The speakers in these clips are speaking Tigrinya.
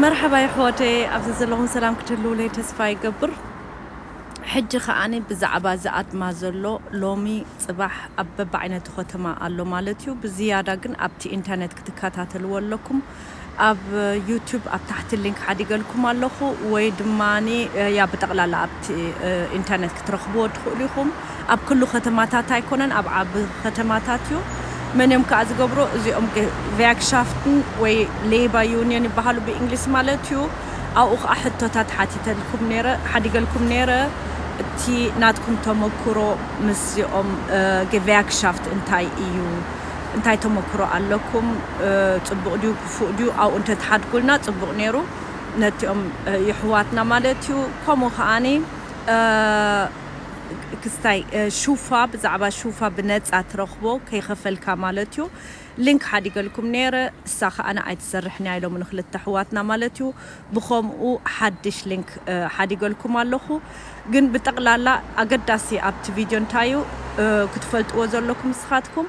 መርሐባ የሕዋተየ ኣብ ዘዘለኹም ሰላም ክትህልዉለይ ተስፋ ይገብር ሕጂ ከኣ ብዛዕባ ዝኣትማ ዘሎ ሎሚ ጽባሕ ኣብ በብዓይነቱ ከተማ ኣሎ ማለት እዩ ብዝያዳ ግን ኣብቲ ኢንተርነት ክትከታተልዎ ኣለኩም ኣብ ዩቱብ ኣብ ታሕቲ ሊንክ ሓዲገልኩም ኣለኹ ወይ ድማ ያ ብጠቕላላ ኣብቲ ኢንተርነት ክትረኽብዎ ትኽእሉ ኢኹም ኣብ ክሉ ከተማታት ኣይኮነን ኣብ ዓቢ ከተማታት እዩ። መን እዮም ከኣ ዝገብሮ እዚኦም ቪያግሻፍትን ወይ ሌይባ ዩንዮን ይበሃሉ ብእንግሊዝ ማለት እዩ። ኣብኡ ከኣ ሕቶታት ሓቲተልኩም ነይረ ሓዲገልኩም ነይረ እቲ ናትኩም ተመኩሮ ምስዚኦም ቪያግሻፍት እንታይ እዩ እንታይ ተመኩሮ ኣለኩም ጽቡቅ ድዩ ክፉእ ድዩ ኣብኡ እንተትሓድጉልና ጽቡቅ ነይሩ ነቲኦም የሕዋትና ማለት እዩ ከምኡ ከኣ። ክስታይ ሹፋ ብዛዕባ ሹፋ ብነጻ ትረኽቦ ከይኸፈልካ ማለት እዩ ሊንክ ሓዲገልኩም ነይረ እሳ ከኣ ኣይትሰርሕን እያ ኢሎሙኒ ክልተ ኣሕዋትና ማለት እዩ ብኸምኡ ሓድሽ ሊንክ ሓዲገልኩም ኣለኹ ግን ብጠቕላላ ኣገዳሲ ኣብቲ ቪድዮ እንታይ እዩ ክትፈልጥዎ ዘለኩም ንስኻትኩም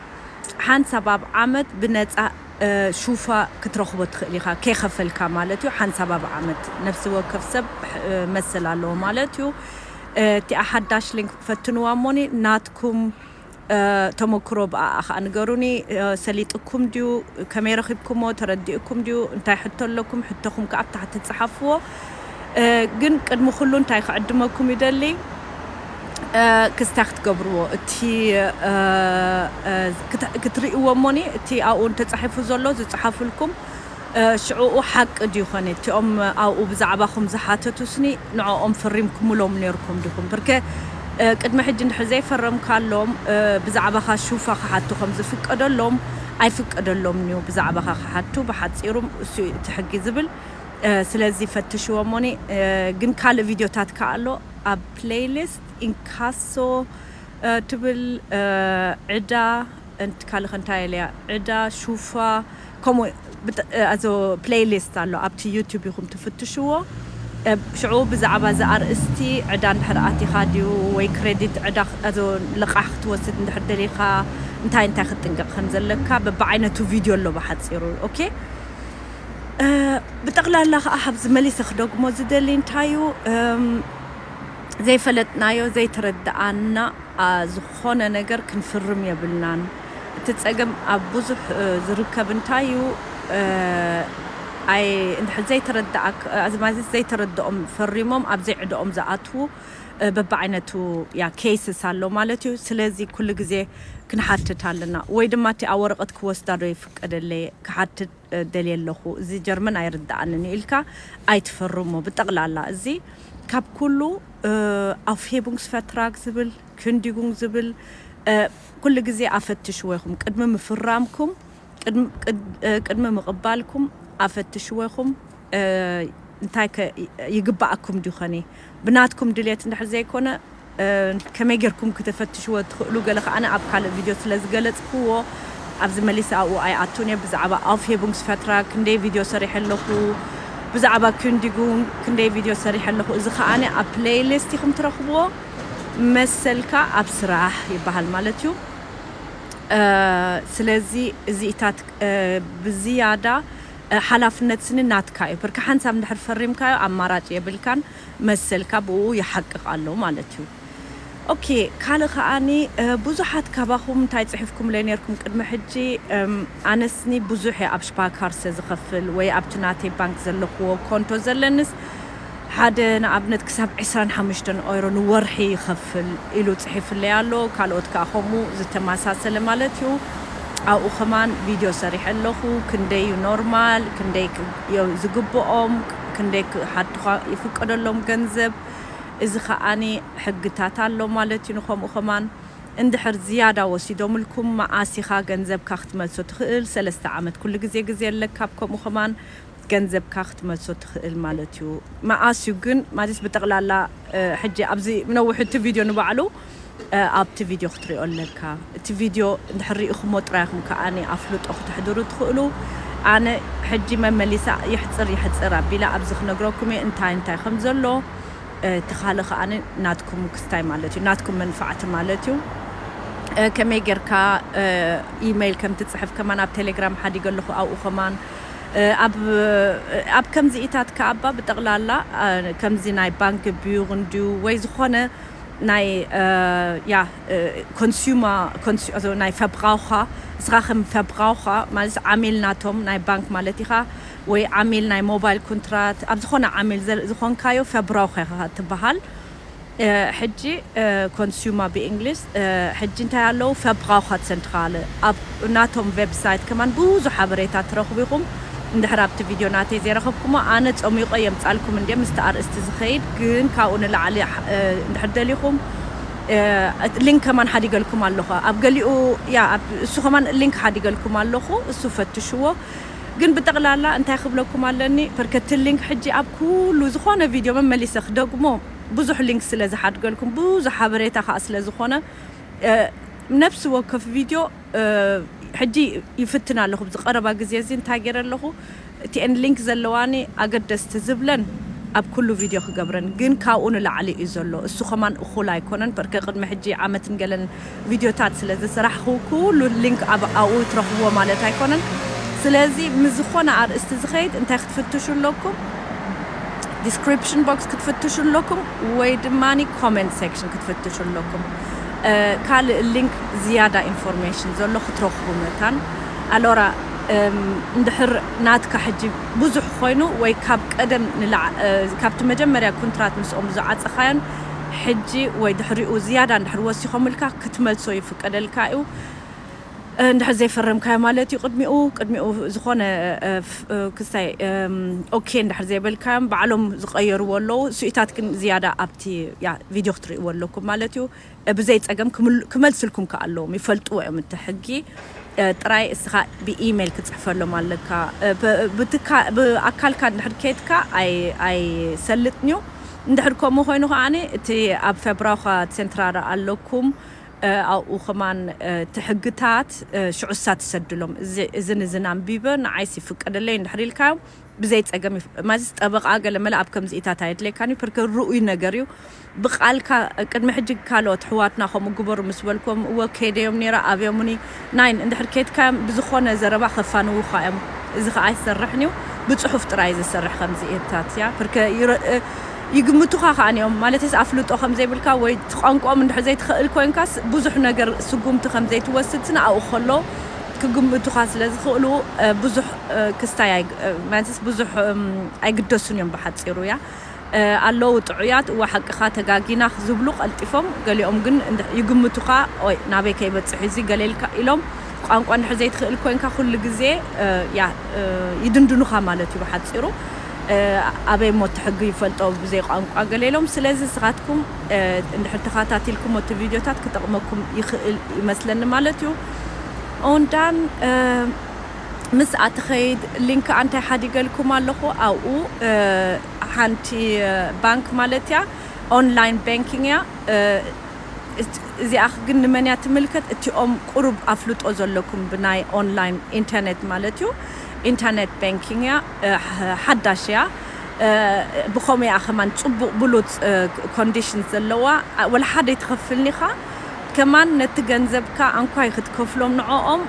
ሓንሳብ ኣብ ዓመት ብነጻ ሹፋ ክትረኽቦ ትኽእል ኢኻ ከይኸፈልካ ማለት እዩ ሓንሳብ ኣብ ዓመት ነፍሲ ወከፍ ሰብ መሰል ኣለዎ ማለት እዩ እቲኣ ሓዳሽ ሊንክ ፈትንዋ እሞኒ ናትኩም ተመክሮ ብኣኣ ከኣ ንገሩኒ ሰሊጥኩም ድዩ ከመይ ረኺብኩሞ ተረዲኡኩም ድዩ እንታይ ሕቶ ኣለኩም ሕቶኹም ከኣ ኣብ ታሕቲ ጽሓፍዎ ግን ቅድሚ ኩሉ እንታይ ክዕድመኩም ይደሊ ክስታይ ክትገብርዎ እቲ ክትርእዎ እሞኒ እቲ ኣብኡ ተጻሒፉ ዘሎ ዝጽሓፍልኩም ሽዕኡ ሓቂ ድዩ ኾን እቲኦም ኣብኡ ብዛዕባኹም ዝሓተቱስኒ ንዕኦም ፈሪምኩምሎም ኔርኩም ዲኹም ብርከ ቅድሚ ሕጂ እንድሕር ዘይፈረምካሎም ብዛዕባኻ ሹፋ ክሓቱ ከም ዝፍቀደሎም ኣይፍቀደሎምንዩ ብዛዕባኻ ክሓቱ ብሓጺሩም እሱዩ እቲ ሕጊ ዝብል ስለዚ ፈትሽዎሞኒ ግን ካልእ ቪድዮታት ከኣ ኣሎ ኣብ ፕለይሊስት ኢንካሶ ትብል ዕዳ እንት ካልክ እንታይ ኣልያ ዕዳ ሹፋ ከምኡ ብጥ ኣዞ ፕለይ ሊስት ኣሎ ኣብቲ ዩቱብ ኢኩም ትፍትሽዎ እብ ሽዑ ብዛዕባ እዚ ኣርእስቲ ዕዳ እንድሕር ኣቲካ ድዩ ወይ ክረዲት ዕዳ ኣዞ ልቃሕ ክትወስድ እንድሕር ደሊካ እንታይ እንታይ ክትጥንቀቅ ከም ዘለካ በብዓይነቱ ቪድዮ ኣሎ ብሓጺሩ ኦኬ ብጠቅላላ ከኣ ኣብዚ መሊሰ ክደግሞ ዝደሊ እንታይ እዩ ዘይፈለጥናዮ ዘይተረድኣና ዝኾነ ነገር ክንፍርም የብልናን እቲ ጸገም ኣብ ብዙሕ ዝርከብ እንታይ እዩ ኣየ እንድሕር ዘይተረደኣክ ኣዝማዚት ዘይተረደኦም ፈሪሞም ኣብ ዘይዕደኦም ዝኣትዉ በብዓይነቱ ያ ኬይስስ ኣሎ ማለት እዩ ስለዚ ኩሉ ግዜ ክንሓትት ኣለና ወይ ድማ እቲኣ ወረቀት ክወስዳ ዶ ይፍቀደለይ ክሓትት ደልየ ኣለኹ እዚ ጀርመን ኣይርደኣንን እዩ ኢልካ ኣይትፈርሞ ብጠቅላላ እዚ ካብ ኩሉ ኣውፍሄቡንግስ ፈትራግ ዝብል Kündigung ዝብል ኩሉ ግዜ ኣፈትሽዎ ኢኹም ቅድሚ ምፍራምኩም ቅድሚ ምቕባልኩም ኣፈትሽዎ ኢኹም እንታይ ከ ይግበኣኩም ድዩ ከኒ ብናትኩም ድልየት እንድሕር ዘይኮነ ከመይ ጌርኩም ክተፈትሽዎ ትኽእሉ ገለ ከኣ ኣብ ካልእ ቪድዮ ስለ ዝገለጽክዎ ኣብዚ መሊሰ ኣብኡ ኣይኣቱን እየ ብዛዕባ Aufhebungsvertrag ክንደይ ቪድዮ ሰሪሐ ኣለኹ ብዛዕባ Kündigung ክንደይ ቪድዮ ሰሪሐ ኣለኹ እዚ ከኣ ኣብ ፕለይሊስት ኢኹም ትረኽብዎ መሰልካ ኣብ ስራሕ ይበሃል ማለት እዩ። ስለዚ እዚኢታት ብዝያዳ ሓላፍነት ስኒ ናትካ እዩ። ብርኪ ሓንሳብ እንድሕር ፈሪምካዮ ኣማራጭ የብልካን መሰልካ ብእኡ ይሓቅቕ ኣሎ ማለት እዩ። ኦኬ ካልእ ከኣኒ ብዙሓት ካባኹም እንታይ ጽሒፍኩምለይ ኔርኩም ቅድሚ ሕጂ ኣነስኒ ብዙሕ እየ ኣብ ስፓርካርሰ ዝኸፍል ወይ ኣብቲ ናተይ ባንክ ዘለክዎ ኮንቶ ዘለንስ ሓደ ንኣብነት ክሳብ ዕስራን ሓሙሽተን ኦይሮ ንወርሒ ይኸፍል ኢሉ ጽሒፍለይ ኣሎ ካልኦት ከኣ ከምኡ ዝተማሳሰለ ማለት እዩ ኣብኡ ከማን ቪድዮ ሰሪሐ ኣለኹ ክንደይ እዩ ኖርማል ክንደይ እዮ ዝግብኦም ክንደይ ክሓቱኻ ይፍቀደሎም ገንዘብ እዚ ከኣ ሕግታት ኣሎ ማለት እዩ ንከምኡ ከማን እንድሕር ዝያዳ ወሲዶምልኩም መኣስ ኢኻ ገንዘብካ ክትመልሶ ትኽእል ሰለስተ ዓመት ኩሉ ግዜ ግዜ ኣለካ ኣብ ከምኡ ከማን ገንዘብካ ክትመልሶ ትክእል ማለት እዩ መኣስ እዩ ግን ማለት ብጠቅላላ ሕጂ ኣብዚ ነውሑ እቲ ቪድዮ ንባዕሉ ኣብቲ ቪድዮ ክትሪኦ ኣለካ እቲ ቪድዮ እንድሕር ሪኢኩሞ ጥራይ ኢኩም ከኣ ኣፍልጦ ክተሕድሩ ትክእሉ ኣነ ሕጂ መመሊሳ የሕጽር የሕጽር ኣቢለ ኣብዚ ክነግረኩም እየ እንታይ እንታይ ከም ዘሎ እቲ ካልእ ከኣ ናትኩም ክስታይ ማለት እዩ ናትኩም መንፋዕቲ ማለት እዩ ከመይ ጌርካ ኢመይል ከም ትጽሕፍ ከማን ኣብ ቴሌግራም ሓዲገ ኣለኩ ኣብኡ ከማን ኣብ ከምዚኢታት ከኣ'ባ ብጠቕላላ ከምዚ ናይ ባንክብዩር እንድዩ ወይ ዝኾነ ናይ ያ ኮንሱመር ናይ ፈብራውኸር ንስኻ ከም ፈብራውኸር ማለት ዓሚል ናቶም ናይ ባንክ ማለት ኢኻ ወይ ዓሚል ናይ ሞባይል ኮንትራት ኣብ ዝኾነ ዓሚል ዝኾንካዮ ፈብራውኸር ኢኻ ትበሃል ሕጂ ኮንሱማ ብእንግሊዝ ሕጂ እንታይ ኣለው ፈብራውኸርትሰንትራለ ኣብ ናቶም ቨብሳይት ከማን ብዙሕ ሓበሬታ ትረኽቡ ኢኹም እንድሕር ኣብቲ ቪድዮ ናተይ ዘይረኸብኩሞ ኣነ ጸሚቆ የምጻልኩም እንድየ ምስቲ ኣርእስቲ ዝኸይድ ግን ካብኡ ንላዕሊ እንድሕር ደሊኹም ሊንክ ከማን ሓዲገልኩም ኣለኹ ኣብ ገሊኡ ያ እሱ ከማን ሊንክ ሓዲገልኩም ኣለኹ እሱ ፈትሽዎ ግን ብጠቅላላ እንታይ ክብለኩም ኣለኒ ፈርከቲ ሊንክ ሕጂ ኣብ ኩሉ ዝኮነ ቪድዮ መመሊሰ ክደግሞ ብዙሕ ሊንክ ስለ ዝሓድገልኩም ብዙሕ ሓበሬታ ከኣ ስለ ዝኮነ ነፍሲ ወከፍ ቪድዮ ሕጂ ይፍትን ኣለኩ ኣብዚ ቀረባ ግዜ እዚ እንታይ ገይረ ኣለኩ እቲኤን ሊንክ ዘለዋኒ ኣገደስቲ ዝብለን ኣብ ኩሉ ቪድዮ ክገብረን ግን ካብኡ ንላዕሊ እዩ ዘሎ እሱ ከማን እኩል ኣይኮነን ፐርከ ቅድሚ ሕጂ ዓመትን ገለን ቪድዮታት ስለ ዝስራሕኹ ኩሉ ሊንክ ኣብ ኣብኡ ትረኽብዎ ማለት ኣይኮነን ስለዚ ምስ ዝኾነ ኣርእስቲ ዝኸይድ እንታይ ክትፍትሹ ኣለኩም ዲስክሪፕሽን ቦክስ ክትፍትሹ ኣለኩም ወይ ድማ ኮመንት ሴክሽን ክትፍትሹ ኣለኩም ካልእ ሊንክ ዝያዳ ኢንፎርሜሽን ዘሎ ክትረኽቡ መታን ኣሎራ እንድሕር ናትካ ሕጂ ብዙሕ ኮይኑ ወይ ካብ ቀደም ካብቲ መጀመርያ ኩንትራት ምስኦም ዝዓጸኻዮን ሕጂ ወይ ድሕሪኡ ዝያዳ እንድሕር ወሲኾምልካ ክትመልሶ ይፍቀደልካ'ዩ። እንድሕር ዘይፈረምካዮ ማለት'ዩ ቅድሚኡ ቅድሚኡ ዝኾነ ክስታይ ኦኬ እንድሕር ዘይበልካዮም ባዕሎም ዝቐየርዎ ኣለዉ። ስኢታት ግን ዝያዳ ኣብቲ ቪድዮ ክትርእይዎ ኣለኩም ማለት'ዩ። ብዘይ ጸገም ክመልስልኩም ከኣ ኣለዎም ይፈልጥዎ እዮም እቲ ሕጊ። ጥራይ እስኻ ብኢሜል ክትጽሕፈሎም ኣለካ። ብኣካልካ እንድሕር ኬድካ ኣይሰልጥን'ዩ። እንድሕር ከምኡ ኮይኑ ከኣ እቲ ኣብ ፈብራዃ ሴንትራራ ኣለኩም ኣብኡ ከማን እቲ ሕግታት ሽዑ እሳ ትሰድሎም እዝን እዝን ኣንቢበ ንዓይስ ይፍቀደለይ እንድሕር ኢልካዮም ብዘይ ጸገም ማለትስ ጠበቃ ገለ መለ ኣብ ከምዚኢታት ኣየድልየካን እዩ ፕርከ ርኡይ ነገር እዩ ብቃልካ ቅድሚ ሕጂ ካልኦት ኣሕዋትና ከምኡ ግበሩ ምስ በልክዎም እወ ከይደዮም ኔረ ኣብዮሙኒ ናይን እንድሕር ኬድካዮም ብዝኾነ ዘረባ ከፋንዉኻ እዮም እዚ ከኣ ኣይሰርሕን እዩ ብጽሑፍ ጥራይ እዩ ዝሰርሕ ከምዚ እብታት እያ ፕርከ ይግምቱኻ ከኣ እዮም ማለተይስ ኣፍልጦ ከምዘይብልካ ወይ እቲ ቋንቋኦም እንድሕር ዘይትኸእል ኮንካስ ብዙሕ ነገር ስጉምቲ ከምዘይትወስድ ስነ ኣብኡ ከሎ ክግምቱኻ ስለ ዝኽእሉ ብዙሕ ክስታይ ማለትስ ብዙሕ ኣይግደሱን እዮም ብሓጺሩ እያ ኣለዉ ጥዑያት እወ ሓቅኻ ተጋጊና ዝብሉ ቀልጢፎም ገሊኦም ግን ይግምቱኻ ኦይ ናበይ ከይበጽሕ እዚ ገለ ኢልካ ኢሎም ቋንቋ እንድሕር ዘይትኽእል ኮንካ ኩሉ ግዜ ያህ ይድንድኑኻ ማለት እዩ ብሓጺሩ ኣበይ እሞ እቲ ሕጊ ይፈልጦ ብዘይ ቋንቋ ገለ ኢሎም ስለዚ ንስኻትኩም እንድሕር ተኻታቲልኩሞ እቲ ቪድዮታት ክጠቕመኩም ይኽእል ይመስለኒ ማለት እዩ ኦንዳን ምስኣ ትኸይድ ሊንክ ኣንታይ ሓዲገልኩም ኣለኹ ኣብኡ ሓንቲ ባንክ ማለት እያ ኦንላይን ባንኪንግ እያ እዚኣ ግን ንመን እያ ትምልከት እቲኦም ቁሩብ ኣፍልጦ ዘለኩም ብናይ ኦንላይን ኢንተርኔት ማለት እዩ ኢንተርኔት ባንኪንግ እያ ሓዳሽ እያ ብኸምኡ እያ ከማን ጽቡቕ ብሉጽ ኮንዲሽን ዘለዋ ወላ ሓደ ይትኸፍልኒኻ ከማን ነቲ ገንዘብካ ኣንኳይ ክትከፍሎም ንዕኦም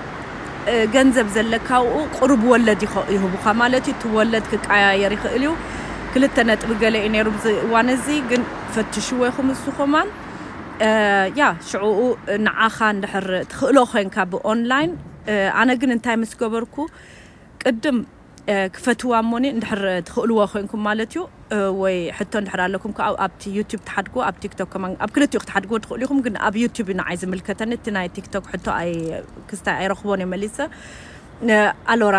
ገንዘብ ዘለካ ኣብኡ ቁሩብ ወለድ ይህቡኻ ማለት እዩ እቲ ወለድ ክቀያየር ይኽእል እዩ ክልተ ነጥቢ ገለ እዩ ነይሩ ብዚ እዋን እዚ ግን ፈትሽዎ ኢኹም እዚ ኮማን ያ ሽዕኡ ንዓኻ እንድሕር ትኽእሎ ኮይንካ ብኦንላይን ኣነ ግን እንታይ ምስ ገበርኩ ቅድም ክፈትዋ እሞኒ እንድሕር ትኽእልዎ ኮንኩም ማለት እዩ ወይ ሕቶ እንድሕር ኣለኩም ክኣ ኣብቲ ዩቱብ ትሓድግዎ ኣብ ቲክቶክ ከማን ኣብ ክልቲኡ ክትሓድግዎ ትኽእሉ ኢኹም ግን ኣብ ዩቱብ እዩ ንዓይ ዝምልከተኒ እቲ ናይ ቲክቶክ ሕቶ ኣይ ክስታይ ኣይረኽቦን እየ መሊሰ ኣሎራ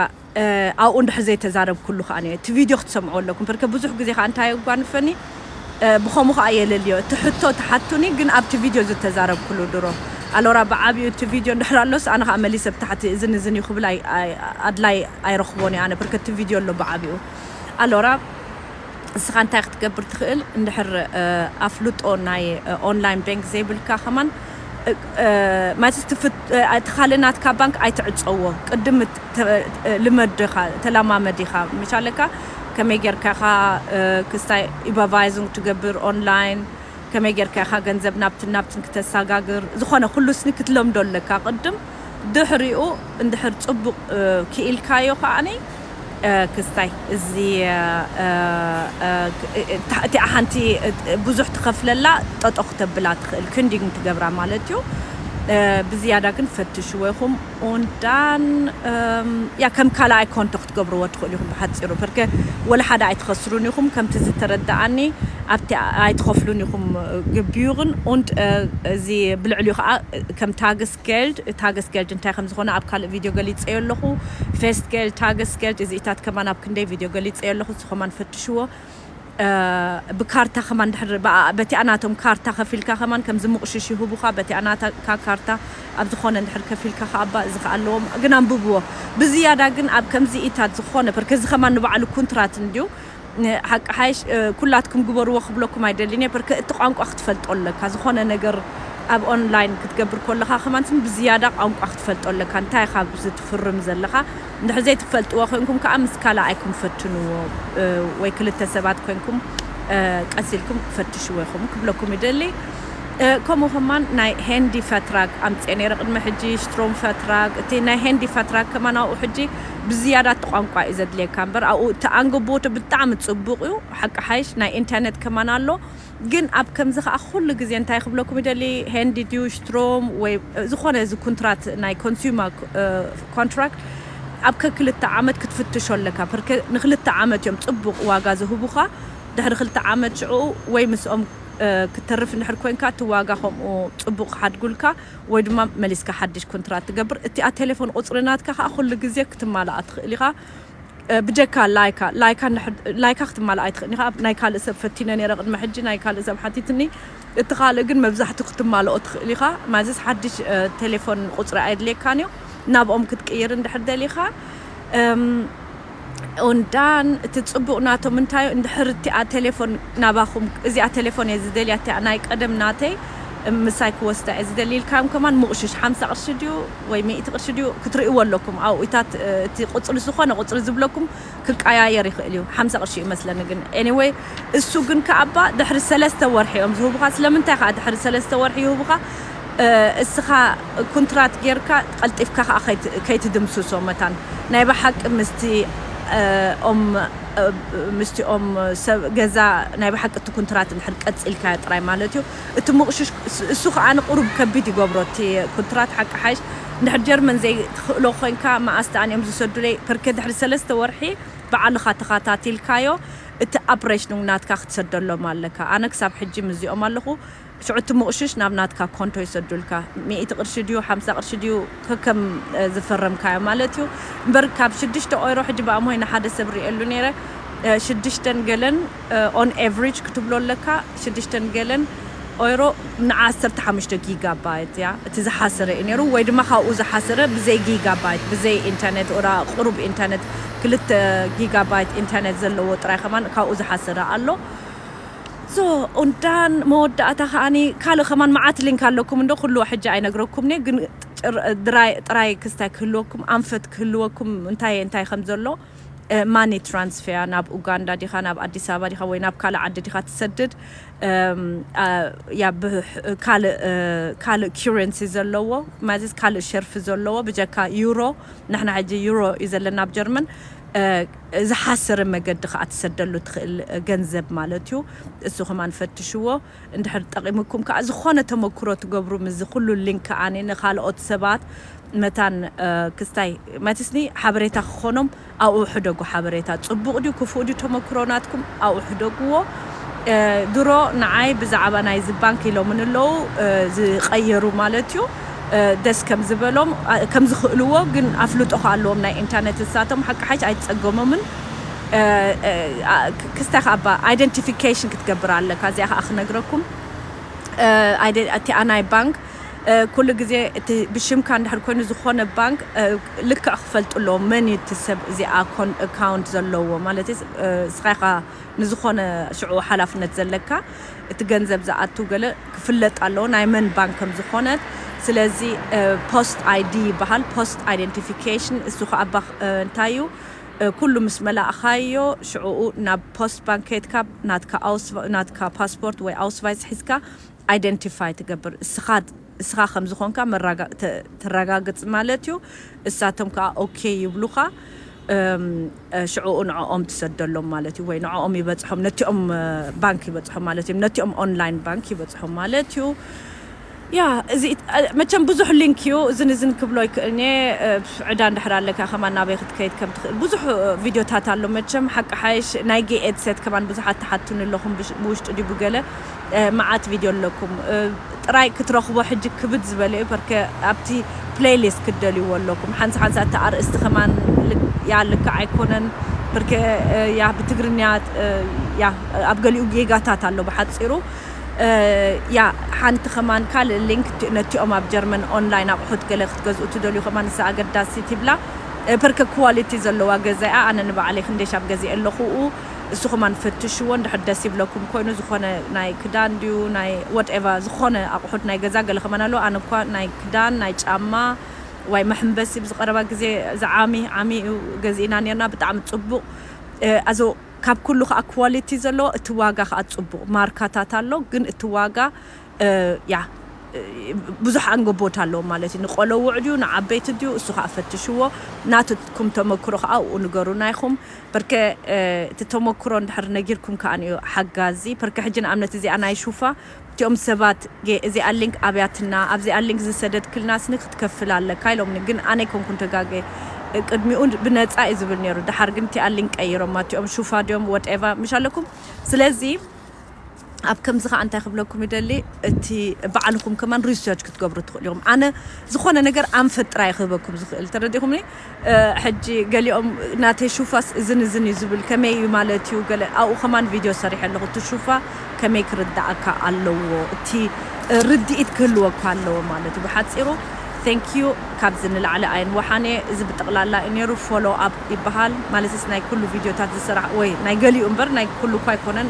ኣብኡ እንድሕር ዘይተዛረብኩሉ ከኣ እቲ ቪድዮ ክትሰምዕዎ ኣለኩም ፐርከ ብዙሕ ግዜ ከኣ እንታይ የጓንፈኒ ብከሙ ከኣ የለልዮ እቲ ሕቶ ትሓቱኒ ግን ኣብቲ ቪድዮ ዝተዛረብኩሉ ድሮ ኣሎራ ብዓቢኡ እቲ ቪድዮ እንድሕር ኣሎስ ኣነ ከኣ መሊሰ ብታሕቲ እዝን እዝን እዩ ክብል ኣድላይ ኣይረክቦን እየ ኣነ ብርክ እቲ ቪድዮ ኣሎ ብዓቢኡ ኣሎራ እስኻ እንታይ ክትገብር ትክእል እንድሕር ኣፍልጦ ናይ ኦንላይን ቤንክ ዘይብልካ ከማን ማለት እቲ ካልእ ናትካ ባንክ ኣይትዕጸዎ ቅድም ልመድ ኢኻ ተላማመድ ኢኻ መቻለካ ከመይ ጌርካ ኢኻ ክስታይ ኡበርቫይዙንግ ትገብር ኦንላይን፣ ከመይ ጌርካ ኢኻ ገንዘብ ናብትን ናብትን ክተሳጋግር፣ ዝኾነ ኩሉ ስኒ ክትለምዶ ኣለካ ቅድም፣ ድሕሪኡ እንድሕር ጽቡቕ ክኢልካዮ ከኣ ክስታይ እዚ እቲኣ ሓንቲ ብዙሕ ትኸፍለላ ጠጠው ክተብላ ትኽእል ክንዲንግ ትገብራ ማለት እዩ፣ ብዝያዳ ግን ፈትሽዎ ኢኹም። ኡንድ ዳን ያ ከም ካልኣይ ኮንቶ ክትገብርዎ ትኽእሉ ኢኹም ብሓጺሩ ፐርከ ወላ ሓደ ኣይትኸስሩን ኢኹም ከምቲ ዝተረደኣኒ ኣብቲ ኣይትኸፍሉን ኢኹም ግቢዩርን ኡንድ እዚ ብልዕሊኡ ከኣ ከም ታግስ ጌልድ ታግስ ጌልድ እንታይ ከም ዝኾነ ኣብ ካልእ ቪድዮ ገሊጸዮ ኣለኹ ፌስት ጌልድ ታግስ ጌልድ እዚኢታት ከማን ኣብ ክንደይ ቪድዮ ገሊጸዮ ኣለኹ ንሱ ከማን ፈትሽዎ ብካርታ ከማን ድሕሪ ብኣኣ በቲኣ ናቶም ካርታ ከፊልካ ከማን ከምዚ ምቕሽሽ ይህቡኻ በቲኣ ናትካ ካርታ ኣብ ዝኾነ እንድሕር ከፊልካ ከኣ እባ እዚ ከኣ ኣለዎ ግን ኣንብብዎ ብዝያዳ ግን ኣብ ከምዚ ኢታት ዝኾነ ፐርከ እዚ ከማን ንባዕሉ ኩንትራት እንድዩ ሓቂ ሓይሽ ኩላትኩም ግበርዎ ክብለኩም ኣይደልን እየ ፐርከ እቲ ቋንቋ ክትፈልጦ ኣለካ ዝኾነ ነገር ኣብ ኦንላይን ክትገብር ኮለኻ ከማን ብዝያዳ ቋንቋ ክትፈልጦ ኣለካ እንታይ ኢኻ ኣብዚ ትፍርም ዘለኻ እንድሕር ዘይትፈልጥዎ ኮይንኩም ከኣ ምስ ካላኣይኩም ፈትንዎ ወይ ክልተ ሰባት ኮይንኩም ቀስ ኢልኩም ፈትሽዎ ኢኩም ክብለኩም ይደሊ ከምኡ ከማን ናይ ሄንዲ ፈትራግ ኣምጼ ነይረ ቅድሚ ሕጂ ሽትሮም ፈትራግ እቲ ናይ ሄንዲ ፈትራግ ከማን ኣብኡ ሕጂ ብዝያዳ እቲ ቋንቋ እዩ ዘድልየካ እምበር ኣብኡ እቲ ኣንግቦቱ ብጣዕሚ ጽቡቅ እዩ ሓቂ ሓይሽ ናይ ኢንተርነት ከማን ኣሎ ግን ኣብ ከምዚ ከኣ ኩሉ ግዜ እንታይ ክብለኩም ይደሊ ሄንዲ ድዩሽትሮም ወይ ዝኾነ እዚ ኩንትራት ናይ ኮንሱማ ኮንትራክት ኣብ ከክልተ ዓመት ክትፍትሾ ኣለካ ፐርከ ንክልተ ዓመት እዮም ጽቡቅ ዋጋ ዝህቡካ ድሕሪ ክልተ ዓመት ሽዑኡ ወይ ምስኦም ክትተርፍ እንድሕር ኮንካ እቲ ዋጋ ከምኡ ጽቡቅ ክሓድጉልካ ወይ ድማ መሊስካ ሓድሽ ኩንትራት ትገብር እቲኣ ቴሌፎን ቁጽሪ ናትካ ከኣ ኩሉ ግዜ ክትማላኣ ትክእል ኢካ ብጀካ ላይካ ላይካ ላይካ ክትማላእ ኣይትኽእልን ኢኻ ናይ ካልእ ሰብ ፈቲነ ኔረ ቅድሚ ሕጂ ናይ ካልእ ሰብ ሓቲትኒ እቲ ካልእ ግን መብዛሕቱ ክትማልኦ ትኽእል ኢኻ ማዘስ ሓድሽ ቴሌፎን ቁጽሪ ኣየድልየካን እዩ ናብኦም ክትቅይር እንድሕር ደሊኻ ኦንዳን እቲ ጽቡቕ ናቶም እንታይ እንድሕር እቲኣ ቴሌፎን ናባኹም እዚኣ ቴሌፎን እየ ዝደልያ እቲኣ ናይ ቀደም ናተይ ምሳይ ክወስዳ እየ ዝደሊ ኢልካዮም ከማን ምቑሽሽ ሓምሳ ቅርሺ ድዩ ወይ ሚእቲ ቅርሺ ድዩ ክትርእይዎ ኣለኩም ኣውኢታት እቲ ቁጽሪ ዝኾነ ቁጽሪ ዝብለኩም ክቃያየር ይኽእል እዩ ሓምሳ ቅርሺ እዩ መስለኒ ግን ኤኒወይ እሱ ግን ከኣ እባ ድሕሪ ሰለስተ ወርሒ እዮም ዝህቡኻ ስለምንታይ ከኣ ድሕሪ ሰለስተ ወርሒ ይህቡኻ እስኻ ኩንትራት ጌርካ ቀልጢፍካ ከኣ ከይትድምስሶ መታን ናይ ብሓቂ ምስቲ ኦም ምስቲ ኦም ሰብ ገዛ ናይ ብሓቂ እቲ ኩንትራት እንድሕር ቀጺልካዮ ጥራይ ማለት እዩ እቲ ሙቕሽሽ እሱ ከኣ ንቁሩብ ከቢድ ይገብሮ እቲ ኩንትራት ሓቂ ሓይሽ እንድሕር ጀርመን ዘይ ትኽእሎ ኮንካ መኣስ ደኣን እዮም ዝሰዱለይ ፐርከ ድሕሪ ሰለስተ ወርሒ ብዓልኻ ተኻታቲልካዮ እቲ ኣብሬሽኑንግ ናትካ ክትሰደሎም ኣለካ ኣነ ክሳብ ሕጂ ምስዚኦም ኣለኹ ሽዑ እቲ ሙቕሽሽ ናብ ናትካ ኮንቶ ይሰዱልካ ሚእቲ ቅርሺ ድዩ ሓምሳ ቅርሺ ድዩ ከከም ዝፈረምካዮ ማለት እዩ እምበር ካብ ሽዱሽተ ኦይሮ ሕጂ ብኣምሆይ ንሓደ ሰብ ሪኤሉ ነይረ ሽዱሽተን ገለን ኦን ኤቭሪጅ ክትብሎ ኣለካ ሽድሽተን ገለን ኦይሮ ንዓ ዓሰርተ ሓሙሽተ ጊጋ ባይት እያ እቲ ዝሓሰረ እዩ ነይሩ ወይ ድማ ካብኡ ዝሓሰረ ብዘይ ጊጋ ባይት ብዘይ ኢንተርኔት ኦራ ቁሩብ ኢንተርኔት ክልተ ጊጋ ባይት ኢንተርኔት ዘለዎ ጥራይ ከማን ካብኡ ዝሓሰረ ኣሎ ሶ ኡንዳን መወዳእታ ከኣኒ ካልእ ከማን መዓት ሊንክ ኣለኩም እንዶ ኩሉ ሕጂ ኣይነግረኩምንየ ግን ጥራይ ጥራይ ክስታይ ክህልወኩም ኣንፈት ክህልወኩም እንታይ እንታይ ከም ዘሎ ማኒ ትራንስፌያ ናብ ኡጋንዳ ዲካ ናብ ኣዲስ ኣበባ ዲካ ወይ ናብ ካልእ ዓዲ ዲካ ትሰድድ ያ ብ ካልእ ካልእ ኪረንሲ ዘለዎ ማዚስ ካልእ ሸርፊ ዘለዎ ብጀካ ዩሮ ንሕና ሕጂ ዩሮ እዩ ዘለና ኣብ ጀርመን ዝሓሰረ መገዲ ከኣ ትሰደሉ ትክእል ገንዘብ ማለት እዩ እሱ ከማን ፈትሽዎ። እንድሕር ጠቂሙኩም ከኣ ዝኮነ ተመኩሮ ትገብሩ ምስዚ ኩሉ ሊንክ ከኣ ንካልኦት ሰባት መታን ክስታይ መትስኒ ሓበሬታ ክኮኖም ኣብኡ ሕደጉ ሓበሬታ ጽቡቅ ድዩ ክፉእ ድዩ ተመኩሮ ናትኩም ኣብኡ ሕደግዎ ድሮ ንዓይ ብዛዕባ ናይዚ ባንክ ኢሎምኒ ኣለዉ ዝቀየሩ ማለት እዩ ደስ ከም ዝበሎም ከም ዝክእልዎ ግን ኣፍልጦ ከኣ ኣለዎም ናይ ኢንተርነት ንሳቶም ሓቂ ሓይሽ ኣይትጸገሞምን ክስታክ ኣባ ኣይደንቲፊኬሽን ክትገብር ኣለካ እዚኣ ከኣ ክነግረኩም እቲኣ ናይ ባንክ ኩሉ ግዜ እቲ ብሽምካ እንድሕር ኮይኑ ዝኾነ ባንክ ልክዕ ክፈልጡ ኣለዎም መን እዩ እቲ ሰብ እዚኣ ኮን ኣካውንት ዘለዎ ማለት እስኻ ኢኻ ንዝኾነ ሽዑ ሓላፍነት ዘለካ እቲ ገንዘብ ዝኣቱ ገለ ክፍለጥ ኣለዎ ናይ መን ባንክ ከም ዝኾነት ስለዚ ፖስት ኣይዲ ይበሃል ፖስት ኣይደንቲፊኬሽን እሱ ከኣ እንታይ እዩ ኩሉ ምስ መላእኻዮ ሽዑኡ ናብ ፖስት ባንክ ከይድካ ናትካ ኣውስቫ ናትካ ፓስፖርት ወይ ኣውስቫይዝ ሒዝካ ኣይደንቲፋይ ትገብር እስኻ እስኻ ከም ዝኾንካ መራጋ ተ ተራጋግጽ ማለት እዩ እሳቶም ከኣ ኦኬ ይብሉኻ እም ሽዑኡ ንዕኦም ትሰደሎም ማለት እዩ ወይ ንዕኦም ይበጽሖም ነቲኦም ባንክ ይበጽሖም ማለት እዩ ነቲኦም ኦንላይን ባንክ ይበጽሖም ማለት እዩ ያህ እዚ መቸም ብዙሕ ሊንክ እዩ እዝን እዝን ክብሎ ኣይክእልን እየ ዕዳ እንድሕር ኣለካ ከማን ናበይ ክትከይድ ከም ትክእል ብዙሕ ቪድዮታት ኣሎ መቸም ሓቂ ሓይሽ ናይ ጌይ ኤድሴት ከማን ብዙሓት ትሓቱኒ ኣለኹም ብውሽጢ ድዩ ብገለ መዓት ቪድዮ ኣለኩም ጥራይ ክትረኽቦ ሕጂ ክብድ ዝበለ እዩ ፐርከ ኣብቲ ፕለይ ሊስት ክትደልይዎ ኣለኩም ሓንሳ ሓንሳ እቲ ኣርእስቲ ከማን ያህ ልክዕ ኣይኮነን ፐርከ ያህ ብትግርኛ ያህ ኣብ ገሊኡ ጌጋታት ኣሎ ብሓጺሩ እያ ሓንቲ ከማን ካልእ ሊንክ ነቲኦም ኣብ ጀርመን ኦንላይን ኣቑሑት ገለ ክትገዝኡ ትደልዩ ከማን ንሳ ኣገዳሲት ይብላ ፐርከ ኳሊቲ ዘለዋ ገዛ እያ ኣነ ንባዕለይ ክንደይ ሻብ ገዚኤ ኣለኹ እኡ እሱ ከማን ፈትሽዎ እንድሕር ደስ ይብለኩም ኮይኑ ዝኾነ ናይ ክዳን ድዩ ናይ ወትኤቨር ዝኾነ ኣቑሑት ናይ ገዛ ገለ ከማን ኣለዋ ኣነ እኳ ናይ ክዳን ናይ ጫማ ዋይ መሕምበሲ ብዝቀረባ ግዜ እዚ ዓሚ ዓሚ እዩ ገዚእና ኔርና ብጣዕሚ ጽቡቕ ኣዞ ካብ ኩሉ ከኣ ኳሊቲ ዘለዎ እቲ ዋጋ ከኣ ጽቡቅ ማርካታት ኣሎ ግን እቲ ዋጋ ያእ ብዙሕ ኣንገቦት ኣለዎ ማለት እዩ ንቆሎዉዕ ድዩ ንዓበይቲ ድዩ እሱ ከኣ ፈትሽዎ ናትኩም ተመክሮ ከኣ ኣብኡ ንገሩና ኢኩም ፐርከ እቲ ተመክሮ እንድሕር ነጊርኩም ከኣ እዩ ሓጋዚ ፐርከ ሕጂ ንኣብነት እዚኣ ናይ ሹፋ እቲኦም ሰባት ጌ እዚኣ ሊንክ ኣብያትና ኣብዚኣ ሊንክ ዝሰደድክልና ስኒ ክትከፍል ኣለካ ኢሎምኒ ግን ኣነ ኣይኮንኩን ተጋጌ ቅድሚኡ ብነጻ እዩ ዝብል ኔሩ ደሓር ግን እቲኣ ሊንክ ቀይሮማ እቲኦም ሹፋ ድዮም ወትኤቫ ምሽ ኣለኩም ስለዚ ኣብ ከምዚ ከኣ እንታይ ክብለኩም ይደሊ እቲ ባዕልኹም ከማን ሪስርች ክትገብሩ ትኽእሉ ኢኹም ኣነ ዝኾነ ነገር ኣንፈት ጥራይ ክህበኩም ዝኽእል ተረዲእኹምኒ ሕጂ ገሊኦም ናተይ ሹፋስ እዝን እዝን እዩ ዝብል ከመይ እዩ ማለት እዩ ገለ ኣብኡ ከማን ቪድዮ ሰሪሐ ኣለኹ እቲ ሹፋ ከመይ ክርድኣካ ኣለዎ እቲ ርድኢት ክህልወካ ኣለዎ ማለት እዩ ብሓጺሩ Thank you ካብዚ ንላዕሊ ኣይንወሓን እየ እዚ ብጠቕላላ እዩ ነይሩ follow up ይበሃል ማለትስ ናይ ኩሉ ቪድዮታት ዝስራሕ ወይ ናይ ገሊኡ እምበር ናይ ኩሉ እኳ ኣይኮነን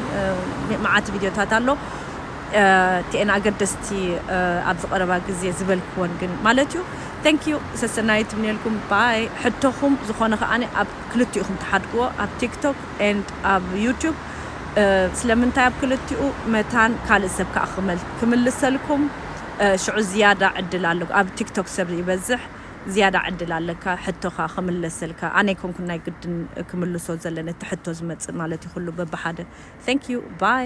መዓት ቪድዮታት ኣሎ እቲኤን ኣገደስቲ ኣብዚ ቀረባ ግዜ ዝበልክወን ግን ማለት እዩ Thank you ሰሰናዩ ትምነየልኩም by ሕቶኹም ዝኾነ ከኣ ኣብ ክልቲኡኹም ትሓድግዎ ኣብ ቲክቶክ and ኣብ ዩቱብ ስለምንታይ ኣብ ክልቲኡ መታን ካልእ ሰብ ከኣ ክምልሰልኩም ሽዑ ዝያዳ ዕድል ኣለኩም ኣብ ቲክቶክ ሰብ ይበዝሕ ዝያዳ ዕድል ኣለካ ሕቶኻ ክምለሰልካ ኣነ ኣይኮንኩን ናይ ግድን ክምልሶ ዘለኒ እቲ ሕቶ ዝመጽእ ማለት እዩ ኩሉ በብሓደ Thank you by።